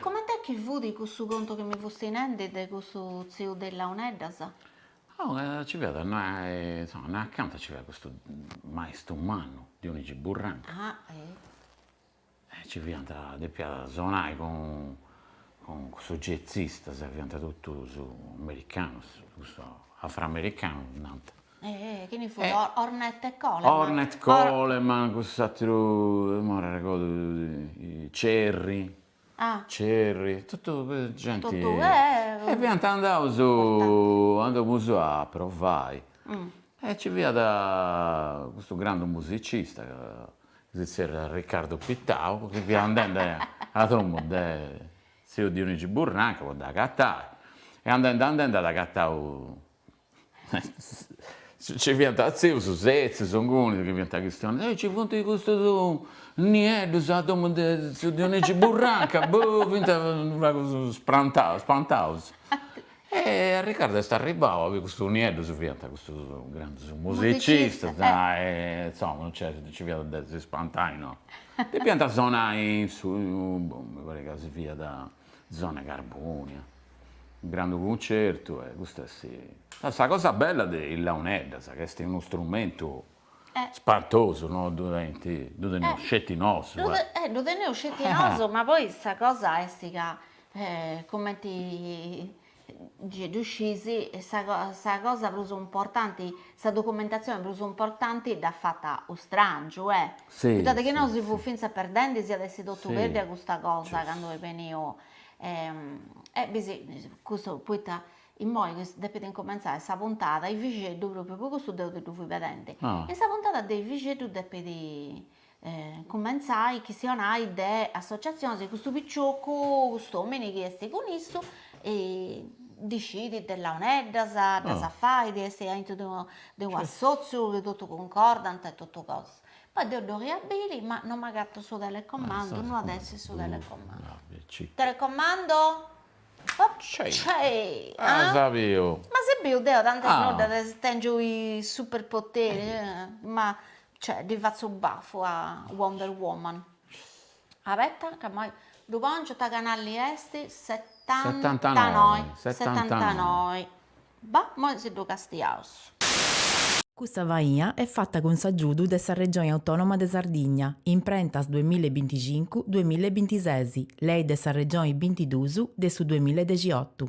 Comente chi fut cussu contu chi mi fusti nendi de cussu tziu de launeddas? Oh, nci fiat, insoma, innoi acanta nci fiat custu maistu mannu, Dionigi Burranca. Ah, eh! Ci fiant, depiat sonai cun cussus jazzistas, fiant totus americanus, cussu afroamericanu nant. Chini fut, Ornette Coleman? Ornette Coleman, cuss'ateru, imoi non arregodu, Cerri, Cerri, totu genti, e fiant andaus, andaus apustis a provai, e ci fiat custu grandu musicista ca si zerriat Riccardu Pittau, chi fiat andende a domu de tziu Dionigi Burranca po dd'agatai, e andende andende at agatau nci fiant tzius setzius inguni chi fiant chistionendi, e nci funt custus nieddus a domu de tziu Dionigi Burranca, boh, fiant u' pagu spantaus spantaus E Riccardu est arribbau, chi custus nieddus fiant custus grandus musicistas, e insomma non nci fiat de si spantai, no, depiant sonai in su, mi parit ca si fiat zona Carbonia, unu grandu cuncertu e custa est sa cosa bella de is launeddas, ca est unu strumentu Spantosu no ddu tenint, ddu teneus sceti nosu. Eh ddu teneus sceti nosu, ma poi sa cosa est ca cumenti gei ddu scis sa sa cosa prus importanti, sa documentatzioni prus importanti dd'at fata u' strangiu, eh. Sì. Poita de chi no si fut finzas perdendi si iat essi totu perdiu a custa cosa candu est beniu e bisi custu poita Immoi chi depit incumentzai sa puntada de Biddexeddu, pròpriu po custu deu ti ddu fui pedendi, in sa puntada de Biddexeddu depit incumentzai chistionai de associatzionis e custu picioccu, cust'omini chi est cun issu ndi scit de launeddas, ddas fait, est aintru de unu de unu assotziu chi totu cuncordant e totu cosas. Poi deu ddu 'oria biri ma non m'agatu su telecomandu, no at essi su telecomandu. Telecomando As a biu? Ma si biu deo tantas nodas tèngiu is superpoteri, ma cioè ddi fatzu bafu a Wonder Woman. Abetta ca imoi ddu pòngiu, ta canalli est? Setantanoi. Setantanoi. Ba, moi si ddu castiaus. Custa faina est fata cun s'agiudu de sa Regioni Autònoma de Sardigna, Imprentas duemilla e binticincu, duemilla e bintises, Lei de sa Regioni bintidus de su duemilla e dexiotu.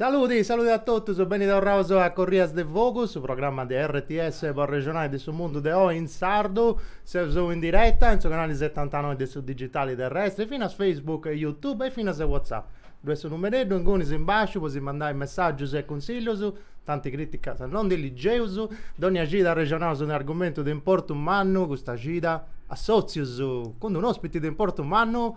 Saludi, saludi a totus, beni torraus a Corrias de Vogus, su programma de RTS po arrexonai de su mundu de oi in sardu. Seus oi in diretta, in su canali setantanoi de su digitali terrestri, finas Facebook e Youtube e finas WhatsApp. Ddoi est su numereddu ingunis in basciu po si mandai messaggius e cunsillus, tanti criticas non ndi ligeus, dònnia cida arrexonaus de un'argumentu de importu mannu, custa cida assòtzius, cun d-un'ospiti de importu mannu.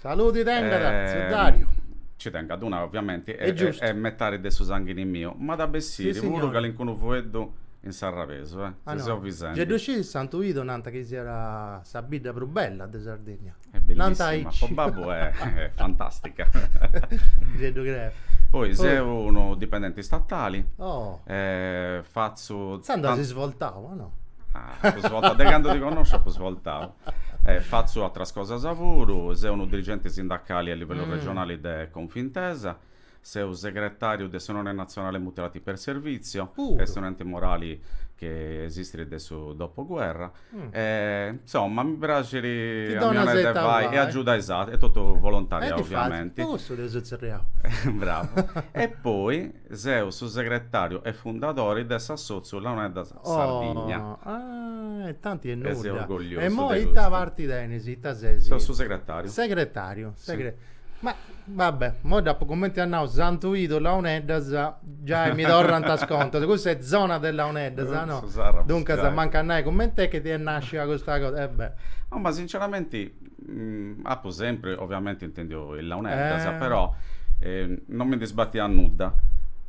Saludi tengat, tziu Dariu. Nci tengat, duncas, oviamenti, est metadi de su sanghini miu, m'at a bessiri puru calincunu fueddu in sarrabesu, eh! Si, seu 'e Santu Idu. Gei ddu scit Santu Idu, nant chi siat sa bidda prus bella de Sardinnia. Est bellissima, po babbu est fantastica. Gei ddu creu. Poi seu unu dipendenti statali. Oh! E fatzu. Intzandus as svoltau, o no? Ah, apu svoltau, de candu ti connosciu apu svoltau. Fatzu atras cosas puru. Seu unu dirigenti sindacali a livellu regionali de Confintesa. Seu segretàriu de s'Unione Nazionale Mutilati per Servizio, est un'ente morali chi esistit de su dopoguerra. Insoma, mi praxit a mi 'onai de fai e agiudai is aterus, est totu volontariau oviamenti. Est fàtzili, po cussu t'eus atzerriau. Bravu. E poi seu su segretàriu e fundadori de s'assòtziu Launeddas Sardigna. Oh, ah, e tanti 'e nudda. E seu orgogliosu de custu. E imoi ita parti tenis, ita ses? Seu su segretariu. Segretariu, segre. Si. Ma, va bè, imoi dd'apu cumenti a nau Santu Idu, Launeddas, giai mi torrant is contas, cussa est zona de Launeddas, no? Su Sarrabus, giai. Duncas, mancu a nai cumenti est chi est nascia custa cosa, e bè. No, ma sinceramenti Apu sempri oviamenti intendiu is launeddas, però non mi ndi sbatiat nudda.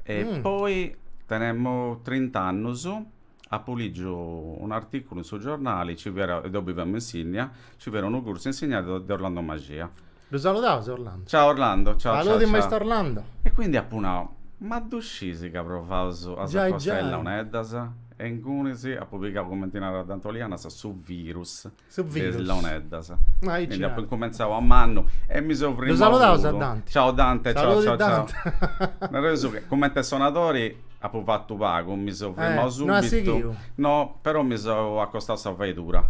E poi tenemu trint'annus, apu ligiu un'articulu in su giornali, nci fiat, deu biviamu in Sinnia, nci fiat unu cursu insignadu de Orlando Mascia. Ddu saludaus Orlando. Ciao Orlando, ciao ciao ciao. Saludi Maistu Orlando. E quindi apu nau, ma ddu scis ca provaus sa cosa de is launeddas? E ingunis apu pigau, cumenti narat Dante Olianas, su virus. Su virus. De is launeddas. Ma aici. Quindi apu incumentzau a mannu e mi seu frimmau puru. Ddu saludaus a Dante. Ciao Dante, ciao ciao ciao. Nareus su chi, cumenti sonadori apu fatu pagu, mi seu frimmau subitu. No as sighiu? No, però mi seu acostau a sa faidura.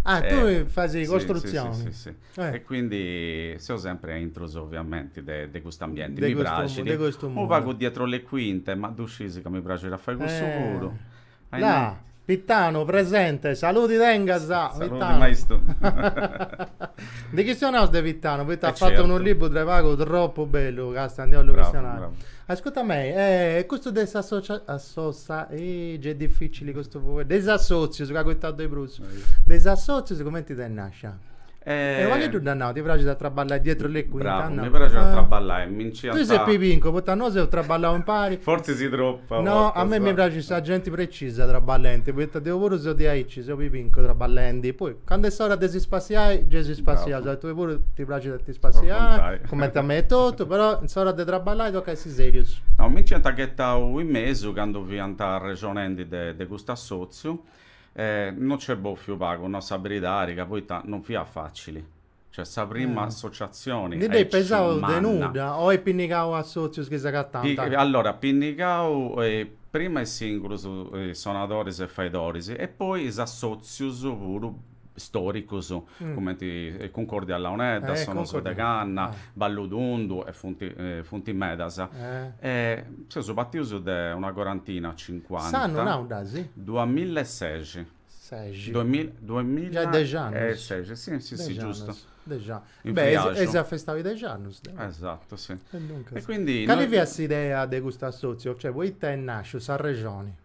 Ah, tui fais costrutzioni. Si, si, si. E quindi seu sempri aintrus ovviamenti de cust'ambienti. Mi praxit. De custu mundu. Unu pagu dietro le quinte, ma ddu scis ca mi praxit a fai cussu puru. Eja, Pittanu presente, saludi tengas. Saludi Pittanu. maistu. Ndi chistionaus de Pittanu, poita at fatu unu libru de pagu tropu bellu, ca 'stadi' 'ollu chistionai. Ascurta mei, e custu de s'assòtziu est dificili custu fueddu, de is assotzius c'at acoitau de prus, de is assotzius cumenti t'est nascia? E unu fueddu m'ant nau, ti praxit a traballai dietro le quinte? Bravu, mi praxit a traballai, mi nci ant. Tui ses pibincu, poita nosu seus traballau impari. Fortzis tropu. No, a mei mi praxit sa genti precisa traballendi, poita deu puru seu diaici, seu pibincu traballendi, poi candu est s'ora de si spassiai, gei si spassiaus, a tui puru ti praxit a ti spassiai, cumenti a mei etotu, però in s'ora de traballai tocat a essi serius. No, mi nci ant ghetau in mesu candu fiant arrexonendi de custu assotziu. E no nc'est bofiu pagu, no, sa beridadi, ca poita no fiat facili. Cioè sa prima associazioni Ndi dd'eis pesau de nudda o eis pinnigau assotzius chi s'agatant? Allora, pinnigau prima is singulus sonadoris e faidoris e poi is assotzius puru stòricos, cumenti Cuncordia a Launeddas, Sonus de Canna, Ballu Tundu e funt funt medas. E seus partius de una corantina, cincuanta. S'annu nau dd'eus? Duamilla e seixi. Seixi. Duamilla e dexi annus. Si si si giustu. Dexi annus. Beh, eis afestau is dexi annus. Esatu, si. E duncas. E quindi. Cali fiat s'idea de custu assòtziu? Cioè, poita est nàsciu, s'arrexoni?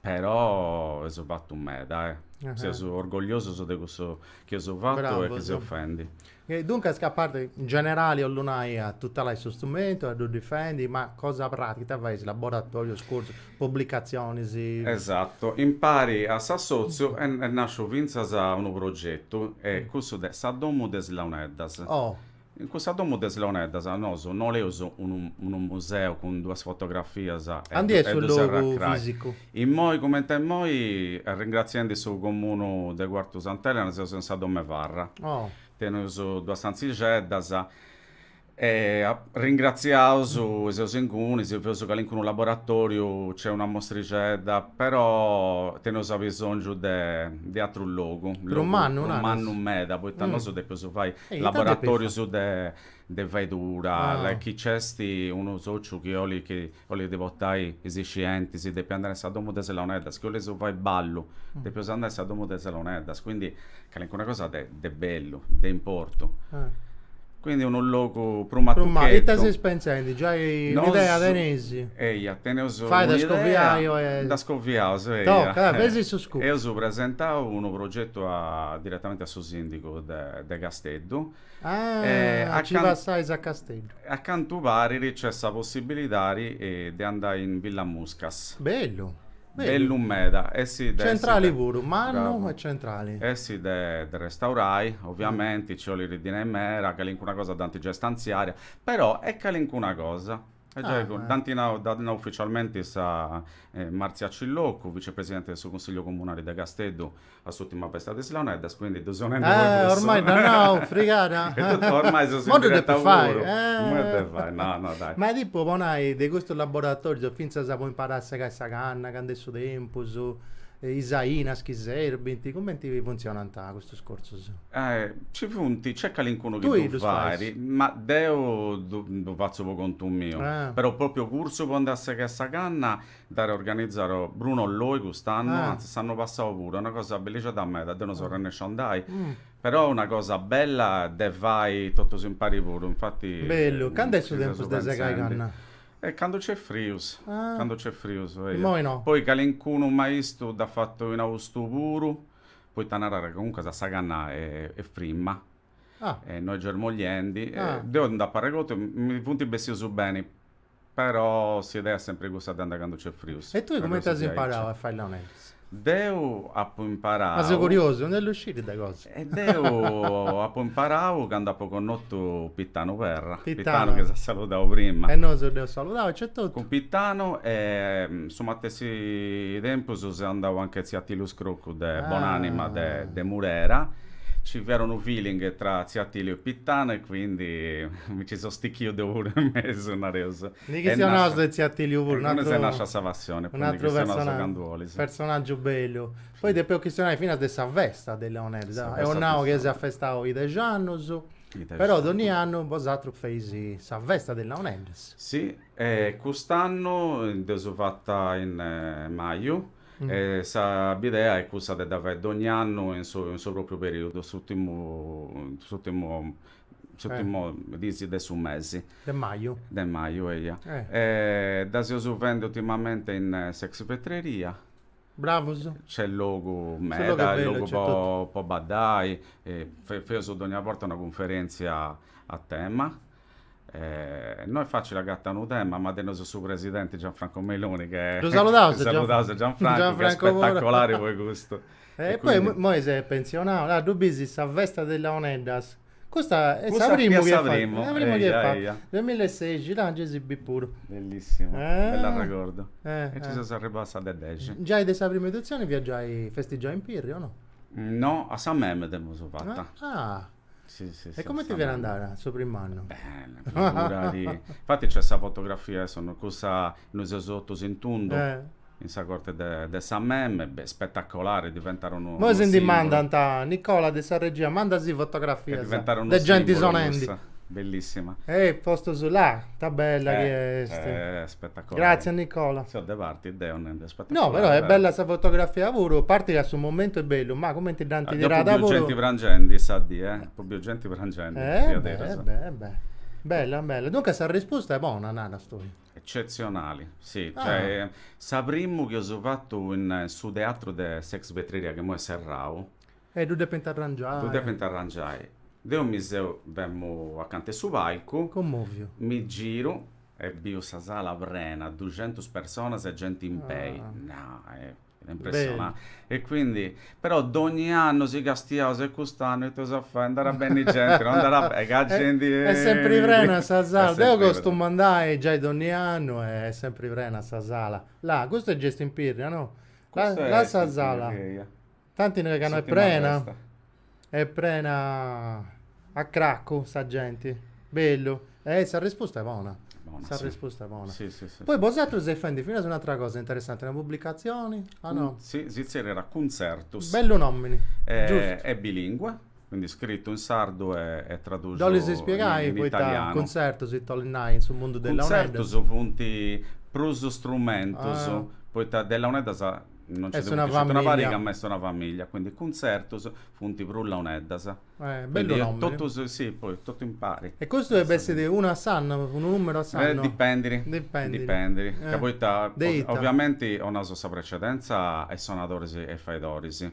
Però eus fatu meda, eh! Seus orgogliosus de cussu chi eus fatu e chi seus fendi. E duncas a parti, in generali 'ollu nai, a tutelai su strumentu, a ddu difendi, ma cosa pràtica ita faeis, laboratorius, cursus, publicatzionis? Esatu, impari a s'assotziu est nasciu fintzas unu progetu, est cussu de sa domu de is launeddas. Oh! In cussa domu de is launeddas nosu no 'oleus unu unu museu cun duas fotografias e Andi est su logu fisicu? Immoi cumenti immoi arringratziendi su comunu de Cuartu Sant'Elena seus in sa domu 'e Farra. Oh. Teneus duas stantzixeddas e arringratziaus e seus incuni, si feus calincunu laboratoriu nc'est una mostrixedda, però teneus abisongiu de de atrus logu, logu mannu naras? mannu meda, poita nosu depeus fai Laboratòrios de faedura, chi nc'est unu sòciu chi olit chi olit portai is iscientis, depit andai in sa domu de is launeddas, chi oleus fai ballu, depeus andai in sa domu de is launeddas, quindi calincuna cosa de de bellu, de importu. Quindi unu logu prus matucheddu. Ita seis pensendi, giai un'idea teneis? Eia, teneus un'idea. Fait a ddu scoviai o e. Ddu scoviaus, eia. Toca, feus su scoop. Eus presentau unu progetu diretamenti a su sìndigu de Casteddu. Ah, e a ci passais a Casteddu. A cantu parit nc'est sa possibilidadi de andai in Villa Muscas. Bellu. Bellu meda. E si de Centrali puru, mannu e centrali. E si de de restaurai, oviamenti, nci 'olit dinai meda, calincuna cosa dd'ant giai stanziada, però e calincuna cosa. E giai cun, dd'ant nau, dd'at nau uficialmenti sa Marzia Cilloccu, vicepresidenti de su Consigliu Comunali de Casteddu a s'ùrtima festa de is Launeddas, quindi ddu seu nendi puru cuss'ora. Eh, ormai dd'at nau, frigada. E totu, ormai seus in diretta puru. Imoi ddu depu fai. Imoi ddu depu fai, no, no, dai. Ma tipu, po nai, de custus laboratorius, fintzas po imparai a segai sa canna, candu est su tempus, is ainas chi serbint, cumenti funtzionant custus cursus? Ae, ci funt, nc'est calincunu chi Tui ddu ddus fait, fais? ma deu ddu ddu fatzu po contu miu. Ah. Però pròpriu cursu po andai a segai sa canna dd'at organizau Bruno Loi cust'annu, Ah. antzis s'annu passau puru, est una cosa bellixedda meda, deu no seu Ah. arrennesciu a andai, però una cosa bella de fai totus impari puru, infati Bellu, cand'est su chi seus tempus de segai pentzendi. canna? E candu nc'est frius, Ah. candu nc'est frius, eia. Immoi no. Poi calincunu maistu dd'at fatu in austu puru, poita narat ca comunque sa canna est frimma e no est germogliendi, deu nd'apu arregotu, mi funt bessius beni, però s'idea est sempri cussa de andai candu nc'est frius. E tui cumenti as imparau a fai launeddas? Deu apu imparau. Ma seu curiosu, ndi 'ollu sciri de cosa. E deu apu imparau candu apu connotu Pitanu Perra, Pitanu chi s'est saludau prima. E nosu dd'eus saludau aici etotu. Cun Pitanu e su matessi tempus seu andau anche a tziu Atiliu Scroccu de bonanima de de Murera, nci fiat unu feeling tra Tziu Atiliu e Pitanu e quindi mi nci so stichiu deu puru in mesu nareus. Ndi chistionaus de Tziu Atiliu puru, un'atru est nàscia sa passioni, poi ndi chistionaus candu olis. Personaggiu bellu. Poi depeus chistionai finas de sa festa de launeddas, ddu eus nau chi s'est festau is dexi annus, però donni annu bosatrus feis sa festa de launeddas. Sì, e cust'annu dd'eus fata in maju, e sa bidea est cussa de dda fai dogni annu in su in su propriu periudu, s'urtimu s'urtimu s'urtimu dis de su mesi. De maju. De maju, eia. E dda seus fendi urtimamenti in s'ex Vetreria. Bravus. Nc'est logu meda. Su logu est bellu, nc'est totu. Logu po baddai, feus dogna borta una cunferentzia a tema. No est fàcile agatare unu tema, ma teneus su presidenti Gianfranco Meloni che... Ddu saludaus Gianfranco, che est spetacolari po custu. E poi immoi s'est pensionau, ah ddu b'is in sa festa de is Launeddas, custa est sa primu chi est fata, est sa primu chi est fata, duemilasexi, là gei si b'is puru. Bellissimu, bell'arregordu, e ci seus arribau a sa de dexi. Giai de sa primu editzioni fiat giai festigiada in Pirri o no? No, a sa Meme dd'eus fata. Sì, sì, E comente fiat andada su prim'annu? Bene, figurati. Infati nc'est sa fotografia, insomma, cussa, nois seus totus in tundu, eh. in sa corte de, de sa meme, beh, spetacolare, diventare unu Moi si ndi mandant, Nicola de sa regia, mandasì fotografias de genti sonendi. Cussa. Bellissima. E postus là, ta bella eh, chi est. Eh, spetacolare. Grazie Nicola. Seo de parti deo, narendi No, però è bella sa fotografia puru, parti ca su momentu è bellu, ma cumenti dd'anti tirada puru... Apo biu genti prangendi sa dì, eh? Apo biu genti prangendi, diaderus. Eh beh, eh beh, bella, bella. Duncas sa rispusta est bona, naras tui? Eccetzionali, si, cioè, sa primu chi eus fatu in su teatru de s'ex Vetreria, chi imoi est serrau... E ddu depint arrangiai. Ddu depint arrangiai. Deu mi seu, femu acanta 'e su palcu... Commoviu. Mi giru, E biu sa sala prena, duxentus personas e genti in pei, nai, fiat impressionanti. E quindi, però dogni annu si castiaus e cust'annu ita eus a fai, nd'at a benni genti, no nd'at a benni, ca genti est est sempri prena sa sala, deu costumu andai giai dogni annu e est sempri prena sa sala, là, custa est, gei est in Pirri, o no? Custu est in Pirri, eia. Tanti ca no est prena. Est prena a cracu sa genti. Bellu. E sa rispusta est bona. Bona, sa rispusta est bona. Sì, sì, sì. Poi bosatrus seis fendi finas un'atra cosa interessanti, una pubblicatzioni, o no? Sì, si tzerriat Cuntzertus. Bellu nomini. Giustu. Est bilìngua. Quindi scritu in sardu e tradusu in italianu. Dd'olis ispiegai poita cuntzertus, ita 'olit nai, in su mundu de Launeddas? Cuntzertus funt prus strumentus, poita de Launeddas no nci nd'est sceti una pariga ma est una familia, quindi cuntzertus funt prus Launeddas. Eh, bellu nomini. Quindi totus, si, poi totu impari. E custu depit essi unu a s'annu, unu numeru a s'annu? Eh, dipendiri. Dipendiri. Dipendiri, ca poita, ovviamenti 'onaus sa precedenza a is sonadoris e a is faidoris.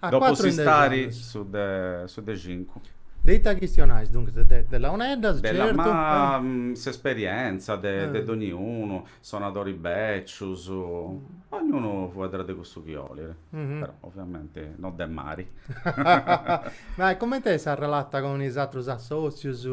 A Dopu cuatru in dexi s'istari annus. su de su de cincu. De ita chistionais, duncas? De de launeddas, De la ma certu. s'esperientza de de dogniunu, sonadori bècius, ognunu fueddat de cussu chi olit, però oviamenti no de mari. Ma e cumenti est s'arrelata cun is atrus assòtzius?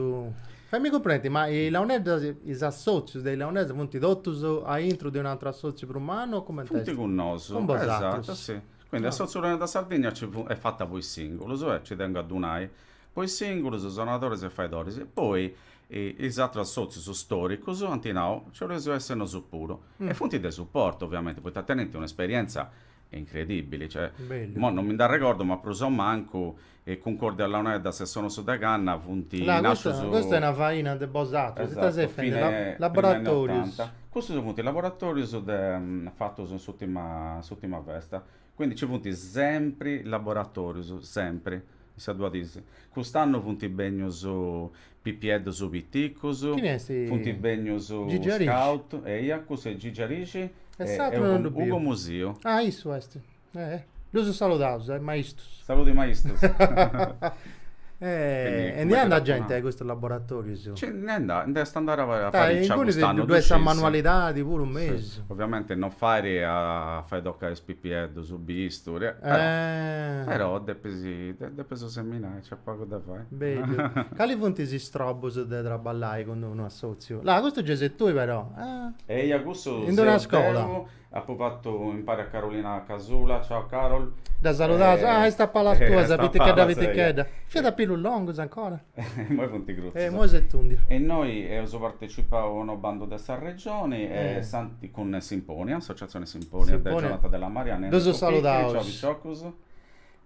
Faimì cumprendi, ma is launeddas, is assòtzius de is launeddas funt totus aintru de un'atru assòtziu prus mannu o cumenti est? Funt cun nosu, esatu, si. Quindi Assòtziu Launeddas sa Sardigna nci funt, est fata po is sìngulus e nci tengu a ddu nai, po is sìngulus, sonadoris e faidoris, e poi is atrus sòtzius stòricus ant nau, nci 'oleus essi nosu puru. E funt de suportu, ovviamenti, poita tenint un'esperientza incredìbili, cioè, imoi non mi nd'arregordu, ma prus o mancu e Cuncòrdia a Launeddas e sonos de canna funt Là, custa, nascius, custa est una faina de bosatrus, ita esatto, seit fendi? fine, La, prima 'e laboratorius. Nottanta. Cussus funt laboratorius de, fatus in s'utima, in s'utima festa. Quindi nci funt sempri laboratorius, sempri, in sa dua dis. Cust'annu funt bènnius pipieddus piticus, Chini est? funt bènnius Gigi Arixi? scout, eia, cussu est Gigi Arixi E e s'atru non ddu Ugo, Ugo biu. Musiu. Ah, issu est. Eh, ddus saludaus, is maistus. Saludu is maistus. E ndi andat genti a custus laboratorius? Ci ndi nd'at, nd'est andada a fai a riccia cust'annu, ddu sciis. Sa manualidadi puru mesu. Oviamenti no fait a fai toccai is pipieddus, bisturi, eh. Però depis, depis seminai, nc'est pagu de fai. Bellu. Cali funt is strobus de traballai cun d-unu assotziu? Là, custu gei ses tui però. Eia, cussu seu deu. In d'una scola. Apo fatu impari a Carolina Casula, ciao Carol. Dda saludaus, ah est a palas tuas, sa pitichedda pitichedda. Fiat a pilus longus ancora. Imoi funt curtzus. E imoi s'est tundiu. E innoi eus partecipau a unu bandu de sa Regioni e cun Simponia, Associazione Simponia de Jonathan Della Marianna e Enrico Picchiri, ddus saludaus, ciao piciocus.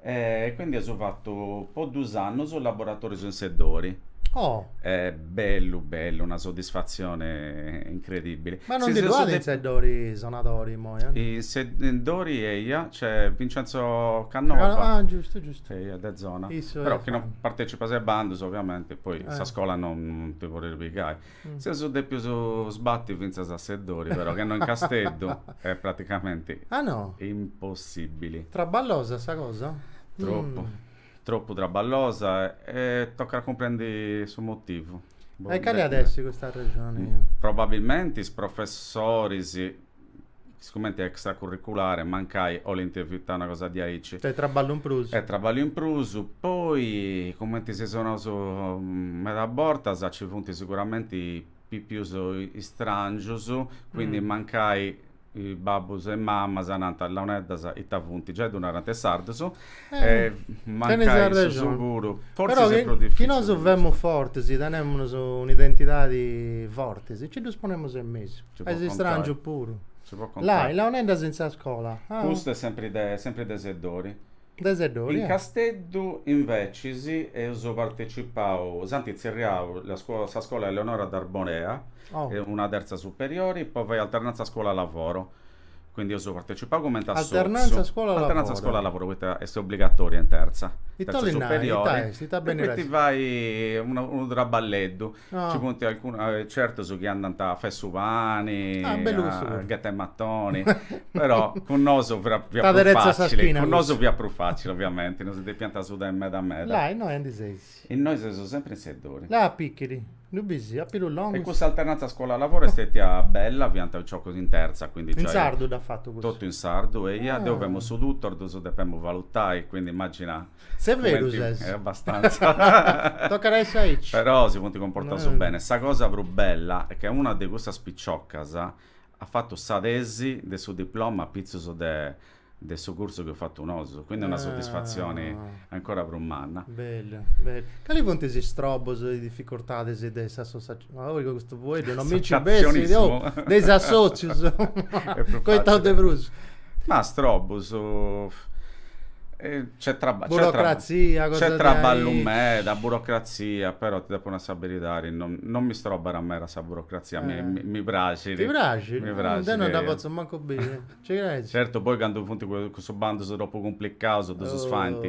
E quindi eus fattu po dus annus laboratorius in Seddori. Oh. E bellu bellu, una soddisfazione incredibili. Ma non ndi ddu at in Seddori sonadori immoi? In Seddori eia, nc'est Vincenzo Cannova. Ah, giustu, giustu. Eia, de zona. Issu Però chi non partecipas a is bandus, ovviamenti, poi sa scola non ti podit pigai. Seus dèpius sbati fintzas a Seddori, però, chi no in Casteddu est praticamenti impossìbili. Traballosa sa cosa? Tropu. Tropu traballosa e tocat a cumprendi su motivu. E cali at essi custa arrexoni? Probabilmenti is professoris is cumenti extracurriculare, mancai 'olint evitai una cosa diaici. Est traballu in prus. Est traballu in prus. Poi, cumenti si seus naus meda bortas, nci funt siguramenti pipius istrangius, quindi mancai babbus e mamas nant, Launeddas ita funt? Giai ddu narant is sardus. però chi nosu femus fortis tenemus un'identidadi fortis e ci ddus ponemus in mesu is istràngius puru là launeddas in sa scola custa est sempri sempri de Seddori de Seddori in Casteddu inveciis eus partecipau s'ant tzerriau sa scola Eleonora d'Arborea una terza superiori po fai alternanza scuola lavoro Quindi eus partecipau cumenti a sotziu. Alternanza scola lavoro. Alternanza scola lavoro poita est obbligatoria in terza. Ita bolit nai, ita est, ita benit a essi. E ti fai unu traballeddu. Ci funt certus chi andant a fai su pani, a ghetai matoni, però cun nosu fiat prus facili, cun nosu fiat prus facili oviamenti, no si depiant sudai meda meda. Là innoi aundi seis? Innoi seus sempri in Seddori. Là a Pichiri? Ddu bisi, a pilus longus. E cussa alternanza scola-lavoro est stètia bella, fiant piciocus in tertza, quindi giai. In sardu dd'at fatu cussu? Totu in sardu, eia, deu femu su tutor, ddus depemu valutai, quindi immagina. Severu ses. E abbastanza. Tocat a essi aici. Però si funt comportaus bene. Sa cosa prus bella est ca una de cussas piciocas at fatu sa tesi de su diploma apitzus de de su cursu chi eus fatu nosu, quindi una soddisfazioni ancora prus manna. Bellu, bellu. Cali funt is strobus e is dificultadis de is associazioni? Ma oi custu fueddu non mi nci bessit, oh, de is assòtzius, coitaus de prus. Ma strobus, nc'est traba, nc'est traba, nc'est traballu meda, burocrazia, però ti depu nai sa beridadi, non non mi strobat meda sa burocrazia, mi mi praxit. Ti praxit? Mi praxit. Deu non dda potzu mancu biri. Nci creis? Certu poi candu funt cussus bandus tropu cumplicaus ddus faint,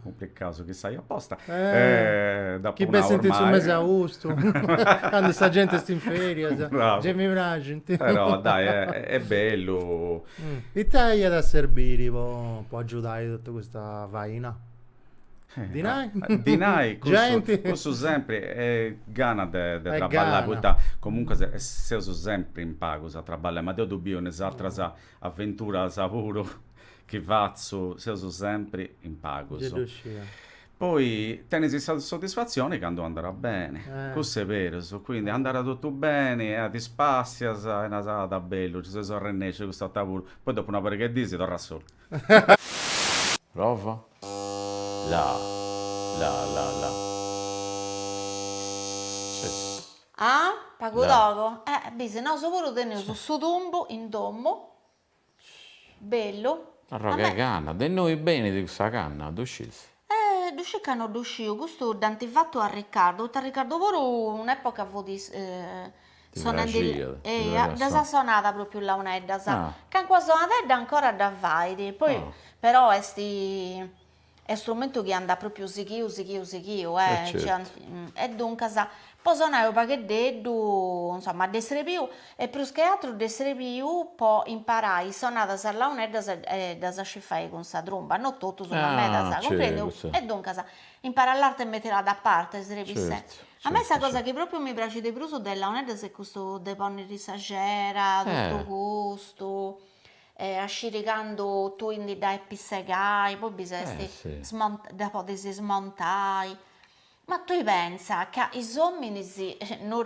cumplicaus chi saiu aposta, dd'apu nau ormai. Chi bessint in su mesi 'e austu, candu sa genti est in ferias, gei mi praxint. Però dai, est bellu. Ita iat a serbiri po agiudai totu custa faina? Dinai, cussu sempri gana de traballai, poita comunque seus sempri in pagus a traballai, ma deu ddu biu in is ateras aventuras puru chi fatzu, seus sempri in pagus. Poi tenis is soddisfazioni candu andat beni, cussu est berus, quindi andat totu beni e ti spassias e naras, ah, ta bellu, ddu seus arrennescius, cust'annu puru, poi dopu una pariga 'e dís torras solu. Prova? La la la la Ah? Pagu togu? Eh bisi, nosu puru teneus su tumbu in domu, bellu. Arrogu 'e canna, de innoi benit cussa canna, ddu scisi? E ddu scis ca no ddu sciu, custu dd'ant fatu a Ricardu, poita Ricardu puru un'epoca fut sonende, eia, ddas at sonadas propriu launeddas, calincuna sonadedda ancora dda fait, poi però est est strumentu chi andat propriu sighiu sighiu sighiu, e duncas Po sonai unu pagheddeddu, insoma, de srebiu e prus che atru de srebiu po imparai is sonadas a launeddas e ddas scì fai cun sa trumba, no totu su ma meda sa cumprendiu e duncas imparai l'arte mettila da parte, srebis se. A mei sa cosa chi propriu mi praxit de prus de is launeddas est custu de ponniri sa cera, totu custu e a sciri candu tui ndi dda depis segai, poi bi s'est dda podis smontai Ma tui pensa ca is ominis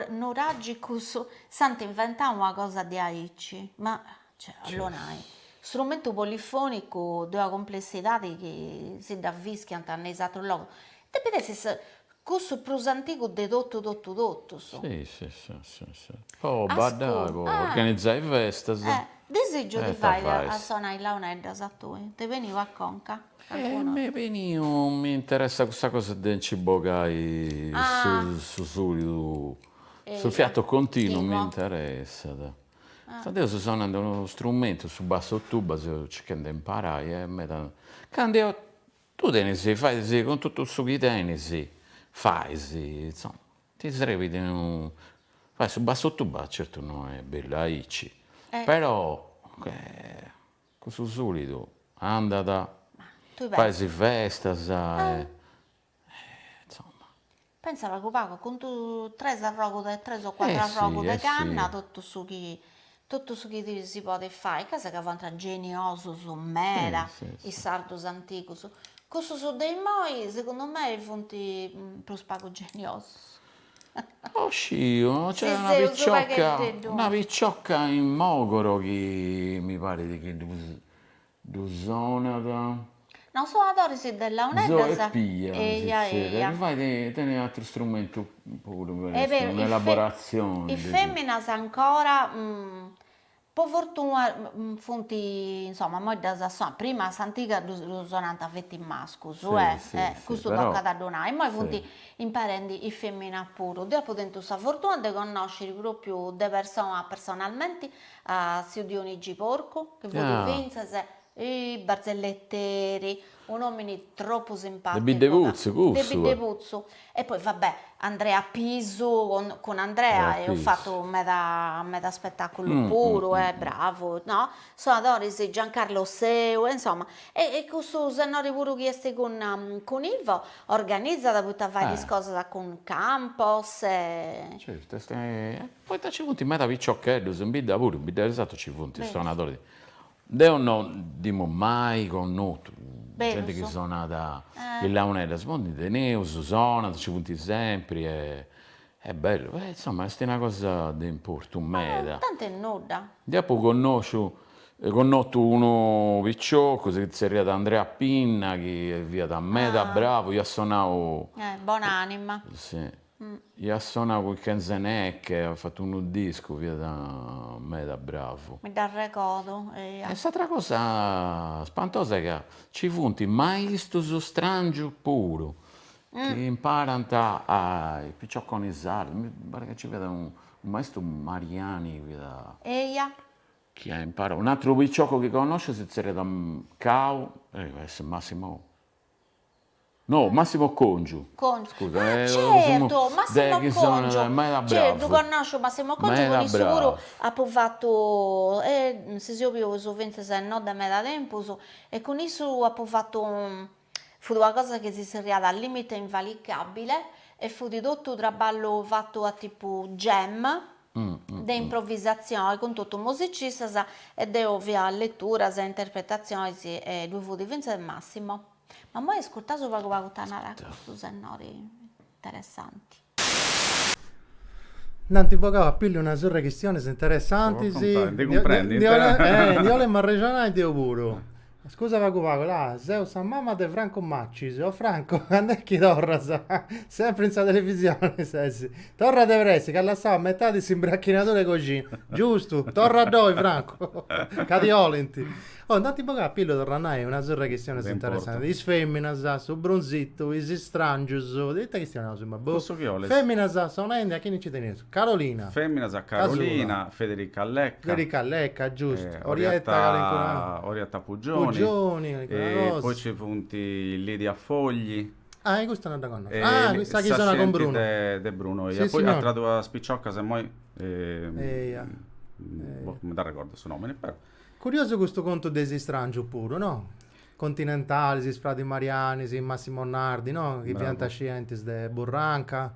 nuragicus s'ant inventau una cosa diaici? Ma cioè ollu nai, strumentu polifonicu de una complessidadi chi si dda fischiant ne is atrus logus, depit essi cussu prus antigu de totu totu totus. Si si si si po baddai po organizai festas. Disìgiu ti fai a sonai launeddas a tui, t'est beniu a conca. Calincunu. E m'est beniu mi interessat custa cosa de nci bogai su sùlidu, su fiato continu mi interessat. Poita deu seu sonende unu strumentu, su basso tuba, seu circhende de imparai e meda. Candu eo, tui tenis, fais cun totu su chi tenis, fais, insoma, ti srebit unu, fai su basso tuba, certu no est bellu aici, però Cun su sulidu andat, fais is festas e insomma. Pensa pagu pagu cun tres arrogus de tres o cuatru arrogus de canna totu su chi totu su chi si podet fai, ca sega fuant geniosus meda is sardus antigus, cussus de imoi segundu mei funt prus pagu geniosus Oh sciu no c'è una picciocca una picciocca in Mogoro chi mi parit chi ddu ddu sonat, no sonadores de launeddas eja eja, mi parit chi tenet atteru strumentu puru in elaborazione, is feminas ancora Po fortuna funt insoma imoi ddas sonant, prima a s'antiga ddus sonant feti mascus e custu tocat a ddu nai, immoi funt imparendi is feminas puru, deu apu tentu sa fortuna de connosciri propriu de persona personalmenti a tziu Dionigi Porcu chi fut fintzas Barzelletteri, un'omini tropu simpaticu. De Biddeputzu cussu. De Biddeputzu e poi va bè Andrea Pisu cun Andrea eus fatu meda meda spetaculu puru est bravu no, sonadoris Giancarlo Seu e insomma e e cussu sennori puru chi esti cun cun Ivo organizat poita fait is cosas cun Campos e. Certu est, poita ci funt meda piciocheddus in bidda puru, in Biddesatu ci funt is sonadoris Deo no nd'emu mai connotu zente chi sonat is launeddas, po ndi teneus, sonant, nci funt sempri e est bellu, e insoma est una cosa de importu meda. Tanti e nudda. Ndi apu connosciu connotu unu piciocu, si tzerriat Andrea Pinna, chi fiat meda bravu, iat sonau. Bon'anima. Si Iat sonau cun Kenze Neke, at fatu unu discu, fiat meda bravu. Mi dd'arregodu, eia. E s'atra cosa spantosa est ca nci funt maistus strangius puru, chi imparant a is picioconis sardus, mi parit ca nci fiat unu maistu Mariani fiat, eia, chi at imparau, un'atru piciocu chi connosciu si tzerriat Cau, est Massimo No, Massimo Congiu. Congiu, ah certu, Massimo Congiu, certu, connòsciu Massimo Congiu, cun issu puru apu fatu, e si seus bius fintzas no de meda tempus, e cun issu apu fatu, fut una cosa chi si zerriat limite invalicabile e fut totu traballu fatu a tipu jam, de improvisatzione cun totu musicistas e deo faia leturas e interpretatzione e ddui fut fintzas Massimo. Ma immoi iscurtaus pagu pagu ita narat custu sennori interessanti. Nd'ant bogau a pillu una surra 'e chistionis interessantis. Ndi 'olemu arrexonai deu puru. A scusa pagu pagu, la, seu sa mama de Franco Macis, o Franco, cand'est chi torras? Sempri in sa televisioni ses. Torra de pressi, ch'as lassau a metadi s'imbracchinadura 'e coxina. Giustu, torra ddoi Franco, ca ti 'olint. Oh, nd'ant bogau a pillu, torra a nai, una surra 'e chistionis interessantis. Is feminas, su brunzitu, is istrangius, de ita chistionaus immoi, boh. Cussu chi 'olis? Feminas, sonendi, a chini nci teneus. Carolina. Fèminas a Carolina, Federica Lecca. Federica Lecca, giustu. Orietta Orietta Pugioni. Pugioni, Calincuna cosa. Poi ci funt Lidia Fogli. Ah, e custa non dda connosco. Ah, sa chi sonat cun Bruno. de Bruno, eia. Poi atras duas piciocas immoi. Eia. Boh, non mi dd'arregordu su nomini, però. Curiosu custu contu de is istrangius puru, no? Continentalis, is Fradis Marianis, Massimo Nardi, no? Chi fiant scientis de Burranca.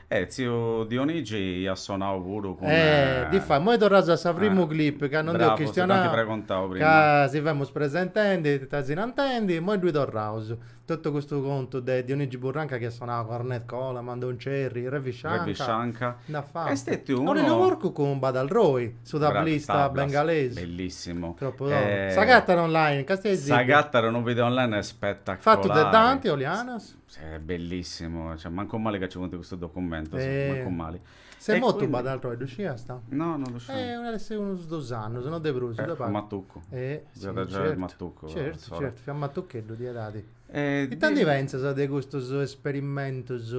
Eh, tziu Dionigi iat sonau puru cun. Eh, difatis, imoi torraus a sa primu clip, ca non nd'eus chistionau, ca si femus presentendi, tesinantendi, imoi ddui torraus. Totu custu contu de Dionigi Burranca chi iat sonau cun Ornette Coleman, Don Cherry, Ravi Shankar, nd'at fatu. Aurelio Porcu cun Badal Roy, su tablista bengalesu. Bellissimu. Tropu totu. S'agatat online, ca st'est in. S'agatat unu video online spetacolari. Fatu de Dante Olianas. Bellissimu, cioè mancu mali ca ci funt custus documentus, mancu mali. S'est motu b'at ateru e ddu sciasta? No, no ddu sciu. Eh, ant a essiri unus dus annus, no de prus, de pagu. Fut matucu. Eh, certu, certu, certu, fiat matucheddu, de edadi. Ita ndi pentzas de custus esperimentus?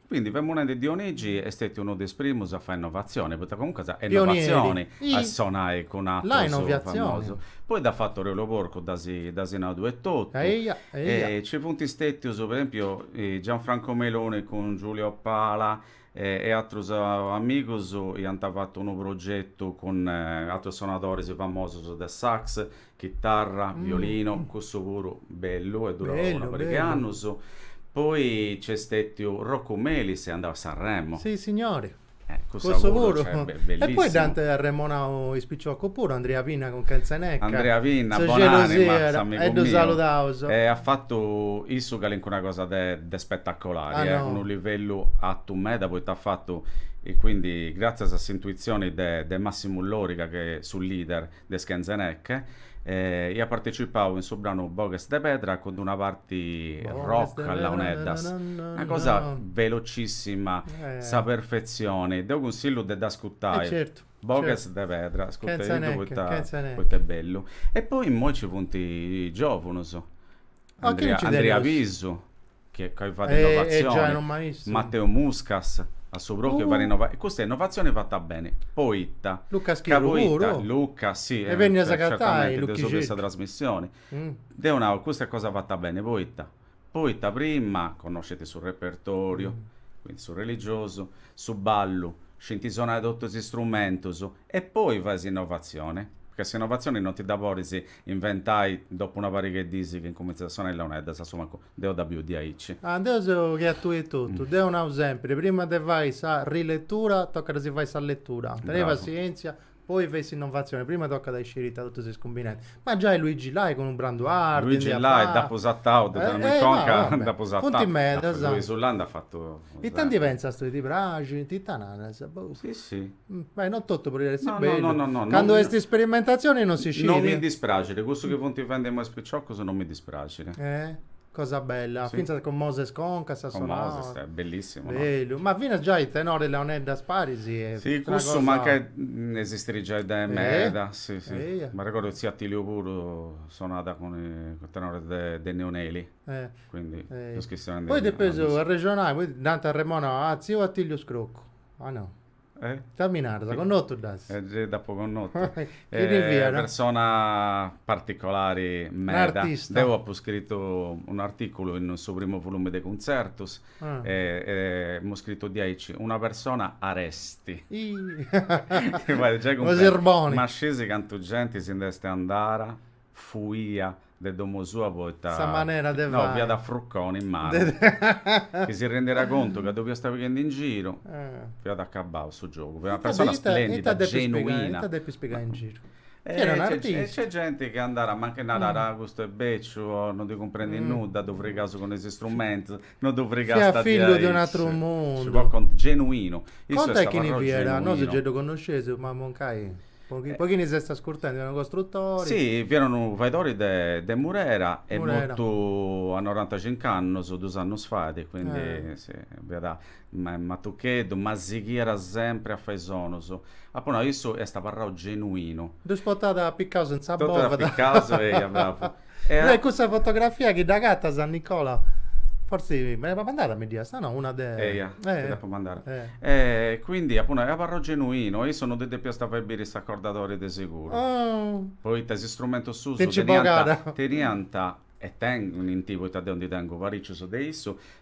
Quindi femus nendi, Dionigi est stetiu unu de is primus a fai innovatzioni, poita comuncas est innovatzioni a sonai cun atrus famosus. Poi dd'at fatu Aureliu Porcu, dd'as nadu etotu. Nci funt stetius, po esempiu, Gianfranco Meloni cun Giulio Pala e atrus amigus iant fatu unu progetu cun atrus sonadoris famosus de sax, Chitarra, violinu, cussu puru bellu, est durau una pariga 'e annus. Poi nc'est stètiu Roccu Melis, est andau a Sanremo. Si signori, cussu puru. E poi dd'ant arremonau is piciocus puru, Andrea Pinna cun Kenze Neke. Andrea Pinna, bon'anima, s'amigu miu. E at fatu issu calincuna cosa de spetacolari, unu livellu atu meda, poita at fatu, e quindi, gratzias a s'intuitzioni de Massimu Loriga, su leader, de is Kenze Neke e iat partecipau in su branu Boghes de pedra cun d'una parti rock a launeddas, una cosa velocissima, sa perfetzioni, deu cunsillu de dd'ascutai, Boghes de pedra, ascutediddu poita est bellu. E poi immoi nci funt is giovunus. A chie nci teneus? Andria Pisu, chi ca fait innovatzioni, Mateu Muscas, a su propriu fait innovatzioni, e custa innovatzioni fata beni, poita, Luca Schirru puru, Luca si est benniu a s'agatai, deu segui sa trasmissioni, deu nau, custa est cosa fata beni, poita, poita prima connoscint su repertoriu, quindi su religiosu, su ballu, scint sonai totus is strumentus, e poi fai s'innovatzioni, ca s'innovatzioni non ti dda podis inventai dopu una pariga 'e diis chi incumintzas a sonai is leoneddas, a su mancu deu dda biu diaici. Ah, deu seu che a tui etotu. Deu nau sempiri, prima de fai sa riletura tocat a si fai sa letura. Tenei Bravu. passientzia, poi fei s'innovatzioni, prima tocat a isciri ita totu s'est cumbinendi. Ma giai Luigi Lai cun Branduardi, ndi Luigi at Lai fatu. dd'apu satau, ddu tenia in conca, Eh, eh, dd'apu satau. Funt medas. Luisu Lai nd'at fatu. Ita ndi pentzas tui, ti praxint? Ita naras? Boh. Si, si. Beh, non totu podit essi No, no, bellu. no, no, no, non Candu mi- est isperimentazioni non si scit. Non mi dispraxit, cussu chi funt fendi imoi is piciocus non mi dispraxit. Eh? Cosa bella, Si. fintzas cun Moses Concas Con sonora. Moses, eh, bellissimu, no? Bellu, ma finas giai tenore e leoneddas paris e Si, s'est una cussu cosa- mancai esistit giai de meda, si, si. eia. M'arregodu chi tziu Atiliu puru sonat cun is tenores de Neoneli, Eh. quindi Poi depeus arrexonai, poi nd'ant arremonau a tziu Atiliu Scroccu Ah no. Eh? Ita mi naras? Sì. Connotu dd'as? Eh, gei dd'apo connotu. Chi ti fiat? Eh, persona particolari meda. Un'artista. Deu apu scritu un'artìculu in su primu volume de cuntzertus ah. e, emu scritu di aici una persona aresti. Ih! Giai cumprendi. Ma scisi cantu genti si nd'est andada? fuia de domo sua poita Sa manera de no, fai. fiat a fruconi in manu, chi si rendiat contu ca ddu fiasta pighendi in giru, fiat acabau su giogu, fiat una persona Ita depi, ita splendida, depi spigai, genuina. ita depis pigai in giru? Chi era un E e nc'est genti chi andat mancai narat, ah custu est beciu o non ndi cumprendit nudda, ddu frigaus cun is strumentus, No ddu frigasta di aici. Genuinu. Contai chini fiat, nosu gei ddu connosceus, ma mancai, po chini s'est ascurtendi, fiat unu costrutori. Si, fiat unu faedori de Murera est mortu a norantacincu annus, dus annus fait, quindi, si, fiat Ma est matucheddu, ma sighiat sempri a fai sonus. Apu nau, issu est abarrau genuinu. Ddus potat apicaus in sa bovada. Totus apicaus, eia, bravu. E a. Cussa fotografia chi dd'agatas a Nicola, fortzis mi dd'as mandada, mi dd'iasta, no? Una de. Eia, ti dd'apu mandada. E quindi apu nau, est abarrau genuinu, e issu no ddi depiast fai biri s'acordadori de siguru. Oh. Poita is istrumentus suus. Ti nci bogada. Teniant, e tenint, poita deu ndi tengu paricius de issu,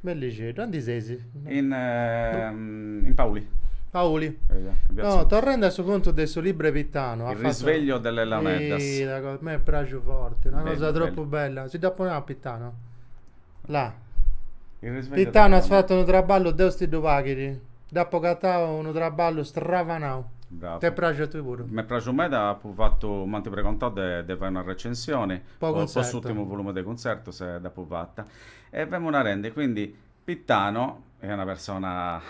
Bellixeddu, aundi seis? In, in Pauli. Pauli. No, torrende a su contu de su libru 'e Pitano. Il risveglio delle launeddas. Sì, una cosa, mi è piaciuto forte, una bello, cosa troppo bello. bella. Si da poneva a Pitano. Là. Il risveglio Pitano at fatu unu traballu, Deus ti ddu paghidi. Dd'apu agatau unu traballu stravanau. Bravo. T'est praxiu a tui puru? M'est praxiu meda, apu fattu, m'anti pregontau de, de fai una recensioni po, po, po s'ultimu volume de cuntzertus e dd'apu fatta. E femu narende, quindi, Pitano est una persona,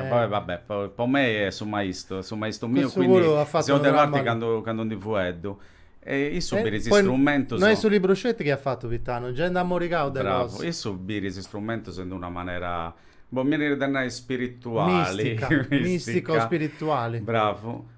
poi va bè, po mei est su maistu, su maistu miu, quindi seu de parte candu ndi fueddu. E issu birit is strumentus. No est su libru sceti chi at fatu Pitano, gei nd'at morigau de cosa. Bravo, issu birit is strumentus in d'una manera, boh, mi 'enit de nai spirituali. Mistica, mistico-spirituali. Bravu.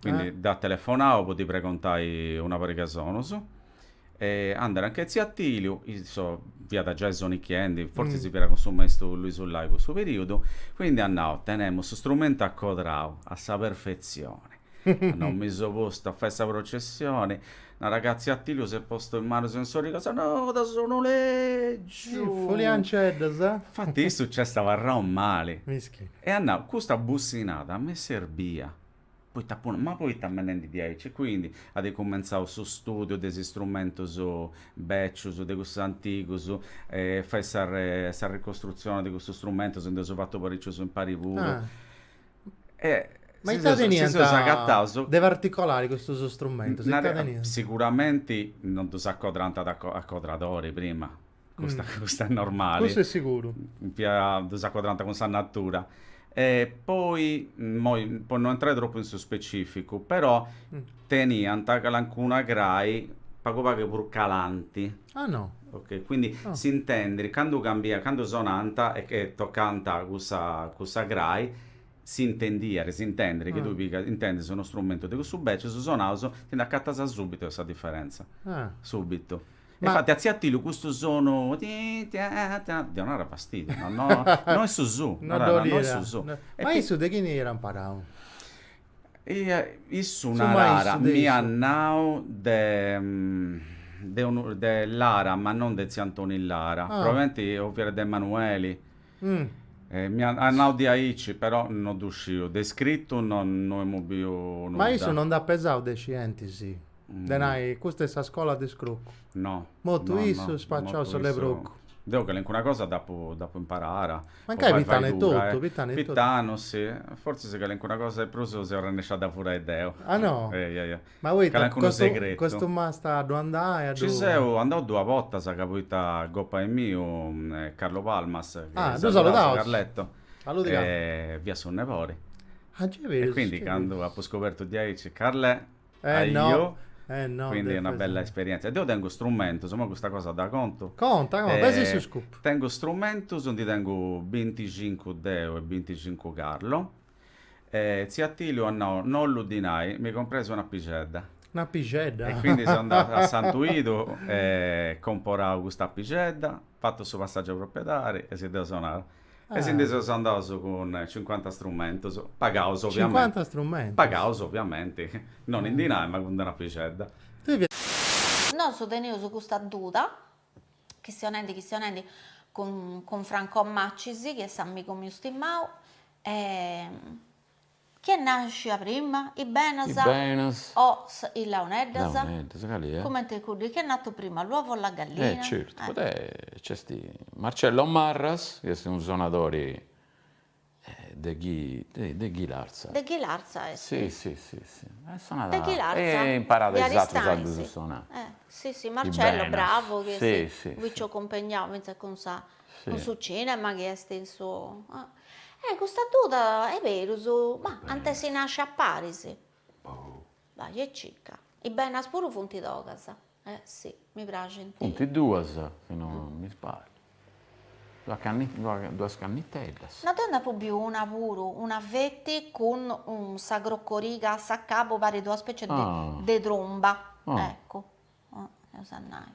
Quindi eh. dd'at telefonau po ddi pregontai una pariga e sonus. E andat anch'e tziu Atiliu, issu fiat giai sonichiendi, fortzis mm. si fiat cun su maistu Luisu Lai cussu periudu, quindi at nau tenemu su strumentu acodrau a sa perfezione. at nau mi seu postu a fai sa processione narat ca tziu Atiliu s'est postu is manus in is origas no da sonu lègiu po launeddas eh? infatti issu nc'est abarrau mali Mischi. e at nau custa bussinada m'est serbia Poita puru, ma poita bendendi diaici e quindi at cumentzau su studiu de is istrumentus bècius, de cussus antigus, e fait sa sa ricostrutzioni de cussus strumentus, ndi eus fatu paricius impari puru. Ma ita teniant de particolari custus strumentus? Ita teniant? Siguramenti non ddus acodrant a acodradori prima, custa, mm. custa è normale. Custa è sicuru. Pia ddus acodrant cun sa natura. E poi, imoi, po non entrare troppo in su specificu, però mm. teniant calancuna crai pagu pagu prus calanti. Ah no. Ok, quindi oh. si intendi, candu cambia, candu sonant e, e tocant cussa, cussa crai, si intendiat, si intendi, chi ah. tui pigas, intendis unu strumentu de cussus beccius sonaus, ti nd'acatas subito sa differenza. Ah. Subito. E Ma- infatti a tziu Atìliu custu sonu ti tia tia donàt fastidiu, no no no est su su, No narat, dd'olire. no est su su. No- E Ma pi- issu de chini iat imparau? Ia issu Su narara, maistu de m'iat issu. nau de de unu de Lara, ma non de tziu Antoni Lara, Ah. probabilmenti o fiat de Emanueli Mi at nau diaici, però no ddu sciu, de iscritu no emu biu nudda. Ma issu no nd'at pesau de scientis, de nai, custa est sa scola de Scroccu? No. Mortu issu, spaciau su lebrucu. Deu calincuna cosa dd'apu imparada. Mancai Pitanu etotu, Pitanu etotu. Pitanu, si. Fortzis calincuna cosa de prus seu arrennesciu a dda furai deu. Ah no? Ma poita calincunu segretu. Custu m'ast a ddu andai a ddu. Ci seu andau duas bortas ca poita gopai miu Carlo Palmas chi saludaus Carletto fiat su nebori. E quindi candu apu scobertu diaici Carlè ajò quindi una bella esperienzia. Deu tengu strumentus, imoi custa cosa dda contu. Conta conta, pes'i su scupu. Tengu strumentus, ndi tengu binticincu deu e binticincu Carlo. E tziu Atìliu at nau, No bollu dinai, mi compras un'apixedda. Un'apixedda? E quindi seu andau a Santu Idu e comporau cust'apixedda, fatu su passaggiu de proprietadi e si dd'eus donau. E si ndi seus andaus cun cincuanta strumentus, pagaus ovviamenti. Cincuanta strumentus? Pagaus ovviamenti, non in dinai ma cund un'apixedda. Nosu tenius custa duda, chistionendi chistionendi cun Franco Macis chi est s'amigu miu stimau, E chi est nàscia prima, i benas. I benas. O sa, i launeddas. Launeddas, cali è? Cumenti cuddu, chi è nato prima, l'uovo o la gallina? Eh certu, poita nc'est Marcello Marras, chi est unu sonadori de Ghi, de Ghilarza. De Ghilarza est. Si, si, si, si. E sonat. De Ghilarza. E imparat is atrus a ddus sonai. Eh, si, si, Marcello, bravu, chi est. Si, si. Finzas cun sa, cun su cinema chi est in su. Eh custa duda e perus ma ant essi nasci a paris. Boh. Bai e circa. Is benas puru funt togas. Eh si, mi praxint. Funt duas, si non mi sbagliu. Duas canni duas canniteddas. No deu nd'apu biu una puru, una feti cun sa crocoriga a s'acabu, parit una specie de tromba, eccu, eus a nai.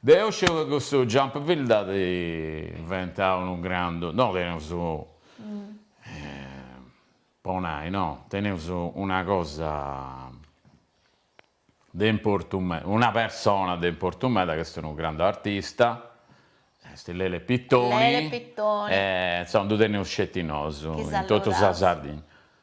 Deu sciu ca custu jump field dd'at inventau unu grandu, no teneus po nai no, teneus una cosa de importu meda, una persona de importu meda ch'est unu grandu artista, est Lele Pittoni, insomma ddu teneus sceti nosu in totu sa Sardigna.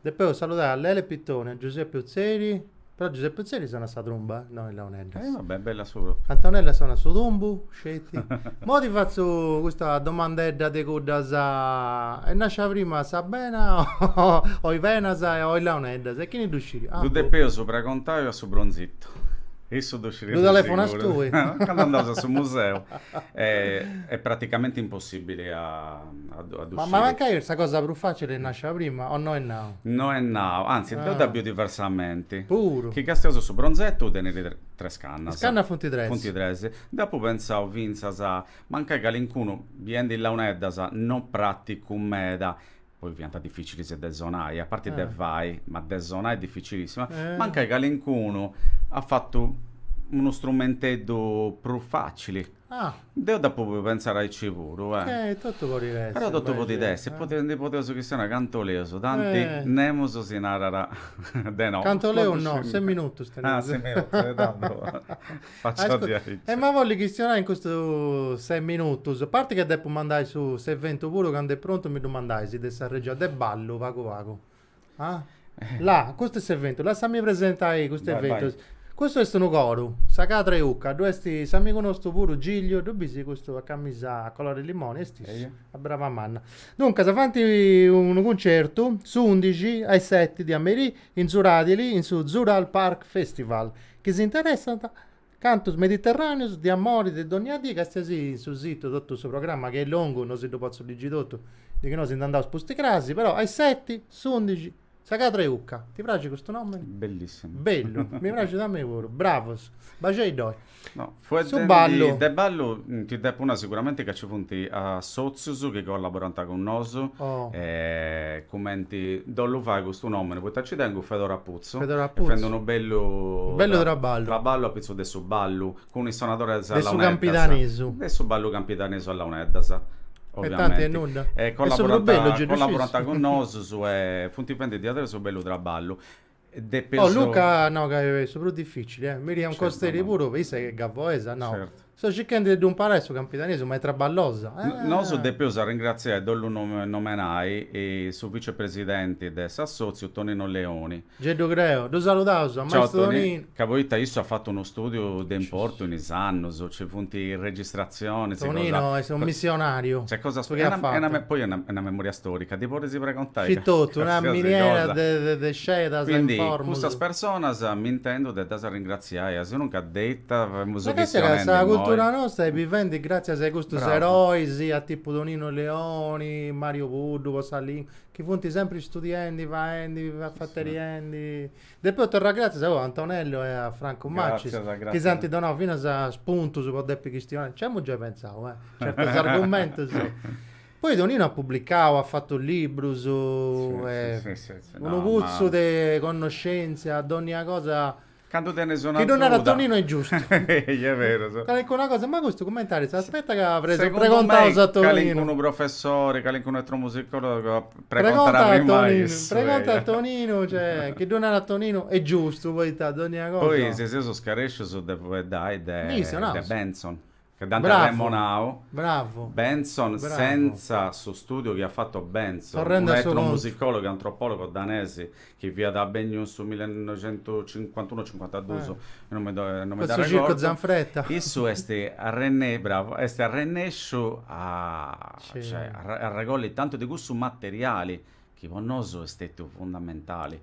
Depeus saludai a Lele Pittoni, a Giuseppe Utzeri, però Giuseppe Utzeri sonat sa trumba, no is launeddas. Eh vabbè, bella su propriu. Antonella sonat su tumbu, sceti. Mo ti fatzu custa domandedda de cuddas, est nascia prima sa bena o is benas o is launeddas e chini ddu sciri? Ddu Ah boh? depeus pragontai a su Bronzittu, issu ddu sciriat de Ddu telefonas seguru. tui? Candu andaus a su museu est praticamenti impossibili a a ddu sciri. Ma mancai est sa cosa prus facili est nascia prima o no est nau? No est nau, anzi deu dda biu diversamenti. Puru. Chi castiaus su bronzettu tenit tres cannas. Is cannas funt tres. Funt tres. Dd'apu pentzau fintzas, mancai calincunu, biendi launeddas, no praticu meda, poi fiant dificilis de sonai, a parti de fai, ma de sonai dificilissima, mancai calincunu at fatu unu strumenteddu prus facili. Ah! Deu dd'apu podiu pentzare aici puru, eh! Eh, totu podit essi. Però totu podit essi, poita ndi podeus chistionai cantu boleus, tanti nemus si narat de no. Cantu boleus no, ses minutus teneus. Ah, ses minutus, e tandu fatzu a diaici. Emu a bolli chistionai in custus ses minutus, a parti ca depu mandai su s'eventu puru candu est prontu mi ddu mandais de sa regia de ballu pagu pagu. Ah? Là, custu est s'eventu. Lassami presentai custu Vai, vai. eventu. Custu est unu coru, sa cadra 'e Ucca, ddu est s'amigu nostu puru Gigliu, ddu bisi custu a camisa a colore limoni, est issu, Eia. a braba manna. Duncas, faint unu cuncertu s'undixi a is seti de a merì in Zuradili in su Zural Park Festival, chi si interessant Cantus mediterràneus de amori de dònnia dì, castiais in su situ totu su programma chi est longu, no si ddu potzu ligi totu, de chi no si nd'andaus pustis crasi, però a is seti, s'undixi, sa cadra 'e ucca. Ti praxit custu nomini? Bellissimu. Bellu, mi praxit a mei puru. Bravus. Baxei ddoi. No, fueddendi Su ballu. de ballu ti depu nai siguramenti ca ci funt assòtzius chi collaborant cun nosu, Oh. cumenti ddu ollu fai custu nomini, poita nci tengu Fedora Putzu Putzu, e fent unu bellu traballu apitzus de su ballu cun is sonadores a launeddas, de su ballu campidanesu a launeddas, oviamenti, e collaborant cun nosus e funt fenti diaderus unu bellu traballu. Luca, no ca est su prus dificili, Miriam Costeri puru, issa chi est gavoesa, no? Seu circhendi de ddu imparai su campidanesu, ma est traballosa. Nosus depeus arringratziai e ddu nomenai su vicepresidenti de s'assòtziu Tonino Leoni. Gei ddu creu. Ddu saludaus a maistu Toninu. Ca poita issu at fatu unu stùdiu de importu in is annus, nci funt is registratzionis. Tonino est unu missionariu. Nc'est cosas. Su chi at fatu. Poi est una memoria stòrica, ddi podis preguntai. Scì totu, una miniera de sciedas e informus. Quindi cussas personas m'intendu de ddas arringratziai. Si aias unu ca deitat femus chistionendi imoi. Sa càssera, sa cultura nostra est bivendi gràtzias a custus erois, a tipu Toninu Leoni, Màriu Puddu po sa lìngua, chi funt sempri istudiendi, faendi, afainendi. Depeus torrai gràtzias a oe, a Antonellu e a Francu Macis, chi s'ant donau finas spuntus po depi chistionai. Nci amus giai pentzau, eh, certus argumentus. Poi Toninu at publicau, at fatu librus, est unu putzu de connoscèntzia, dònnia cosa Candu tenes una Chi ddu narat atzuda. Toninu est giustu. Ehi, est beru, so. Calincuna cosa, ma custu cummentari s'aspetta ca pres- Segundu pregontaus mei, a Toninu. calincunu professori, calincunu etnomusicòlogu at pregontadu Pregonta a a primmai Toninu, cussu, pregonta a eia. Toninu, cioè, chi ddu narat Toninu est giustu, poita dònnia cosa. Poi si seus scarèscius de fueddai de Ndi issu, naus. de Bentzon. Ca dd'ant arremonau. Bravu. Bentzon senza su stùdiu chi at fatu Bentzon, unu etnomusicòlogu e antropòlogu danesi chi fiat benniu in su millenoixentucincuantunu o cincuantadus, non mi dd'arregordu, issu est arrennesciu, bravu, est arrennesciu a arregolli tantu de cussu materiali chi po nosu est stetiu fundamentali,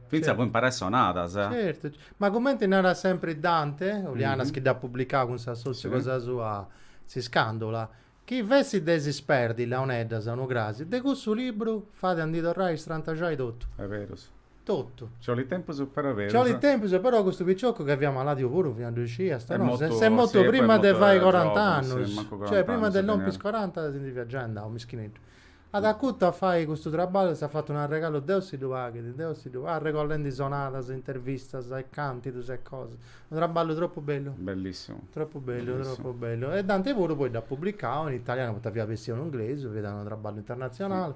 fintzas po imparai sonadas. Certu, ma cumenti narat sempri Dante Olianas chi dd'at publicau cun s'assòtziu cosa sua S'iscàndula, chi fessit de si sperdi is launeddas, unu crasi, de cussu libru fait a ndi torrai a strantaxai totu. Est berus. Totu. Nci 'olit tempus però est berus. Nci 'olit tempus però custu picioccu ca fiat maladiu puru fiat ddu scis, est mortu, est mortu prima de fai corant'annus, cioè prima de lompi is coranta si ndi fiat giai andau, mischineddu. At acutu a fai custu traballu e s'at fatu un'arregalu Deus si ddu paghit, Deus si ddu, arregollendi sonadas, intervistas e càntidus e cosas. Unu traballu tropu bellu. Bellissimu. Tropu bellu, tropu bellu. E Dante puru poi dd'at publicau in italianu poita fiat bessiu in inglesu, fiat unu traballu internatzionali.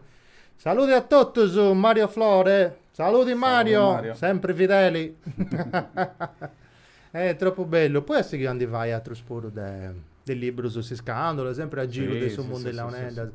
Saludi a totus, Mario Flore. Saludi Mario, sempri fideli. E tropu bellu, poi as a sighiri a ndi fai atrus puru de de librus Iscandula, sempri a giru de su mundu 'e launeddas.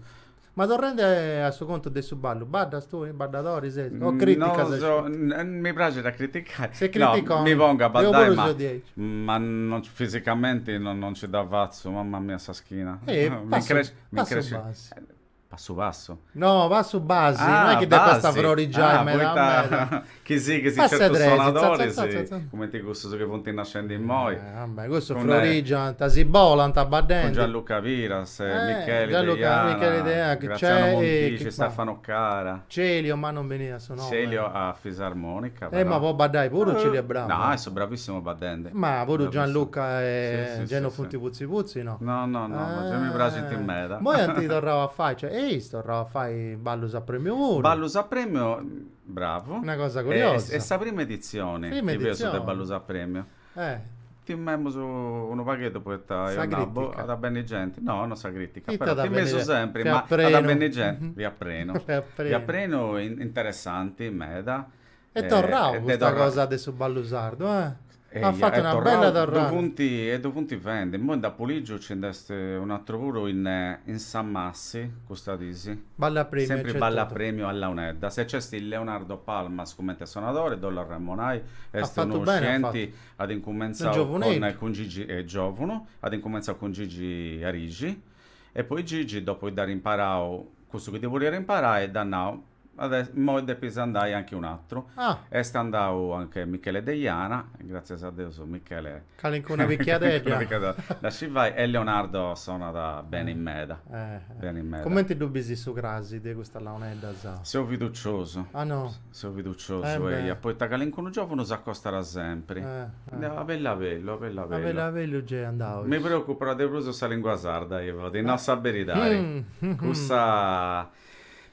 Ma torrendi a su contu de su ballu, baddas tui, baddadori ses? O criticas sceti? Mi praxit a criticai. Ses criticoni? Mi pongu a baddai ma. Deu puru seu diaici. Ma no fisicamenti non nci dda fatzu, mamma mia sa schina. Mi incresci, mi incresci. Passu passu. Passu passu? No, passu basi, ah, no est chi depat basi. Est a frorigiai ah, meda meda. chi si, chi si passit certus sonadoris, za, za, za, cumenti cussus chi funt nascendi immoi. Eh, vabbè, cussus frorigiant, si bolant baddendi. Cun Gianluca Piras, eh, Micheli Gianluca, Deiana, Micheli Deiana, Graziano Montisci, Stefano Cara. Celio, no mi beniat su nomu. Celio a fisarmonica però. Eh ma po baddai puru Celio est bravu. No, est bravissimu baddende. Ma puru Gianluca e gei non funt putzi putzi no. No no no no gei mi praxint meda. Moi ant torrau a fai cioè eis torrau a fai ballus a premiu puru. Ballus a premiu bravu. Una cosa curiosa. Est sa prima editzioni chi feus de ballus a premiu. Eh. Timemus unu pagheddu poita eo nau, at a benni genti, no, no sa critica, però timeus sempri, ma at a benni genti, fiat prenu, fiat prenu, interessanti meda. Est torrau custa cosa de su ballu sardu, eh. At fatu una bella torrada. Funt, e ddu funt fendi, imoi nd'apu ligiu nci nd'est un'atru puru in Samassi Si, custas dis. Ballu a premiu. Sempri ballu a premiu a launeddas. E nc'est Leonardo Palmas cumenti sonadori, ddu ollu arremonai, est unu scienti, at incumentzau cun Gigi, est giovunu, at incumentzau cun Gigi Arisci, e poi Gigi, dopu chi dd'at imparau cussu chi ddi boliat imparai, dd'at nau, Immoi depis andai anche un'atru. Est andau anche Michele Deiana, gràtzias a Deus Michele. Calincuna pichiadedda. Dda scit fai e Leonardo sonat beni meda. Cumenti ddu bis su crasi de custas launeddas? Seu fiduciosu. Ah no? Seu fiduciosu, eia, poita calincunu giòvunu s'acostat sempri. Abellu abellu, abellu abellu. Abellu abellu nc'est andau. Mi preocupat de prus sa lìngua sarda, Ivo, ti nau sa beridadi. Cussa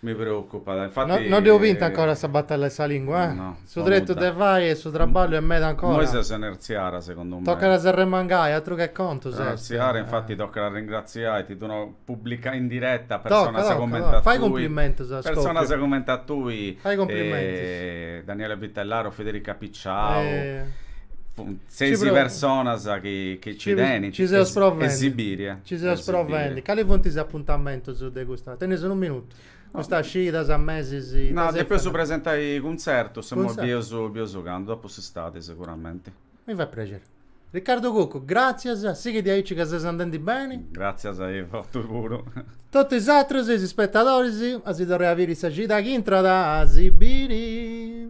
Mi preocupat, infati. No est binta ancora sa batalla 'e sa lingua, eh? No. Su tretu de fai e su traballu est meda ancora. Immoi seus a inertzia, segundu mei. Tocat a s'arremangai, atru che contus est. A inertzia, infati tocat a ringratziai, ti ddu nau, publicu in diretta personas cumenti a tui. Tocat, tocat, fai cumplimentus a Scoppiu. Personas cumenti a tui. Fai cumplimentus. Daniele Vitellaro, Federica Picciau. Seis personas chi nci tenint e Sibiria. Nci seus provendi. Cali funt is apuntamentus de custa. Tenis unu minutu. Custas cidas, mesis. No, depeus presentai cuntzertus, imoi bius candu, dopu s'istadi seguramenti. Mi fait prexeri. Riccardo Cuccu, gràtzias, sighi diaici ca ses andendi beni. Gràtzias a bosatrus puru. Totu is atrus, is ispetadoris, a si torrai a biri sa cida chi intrat, a si biri.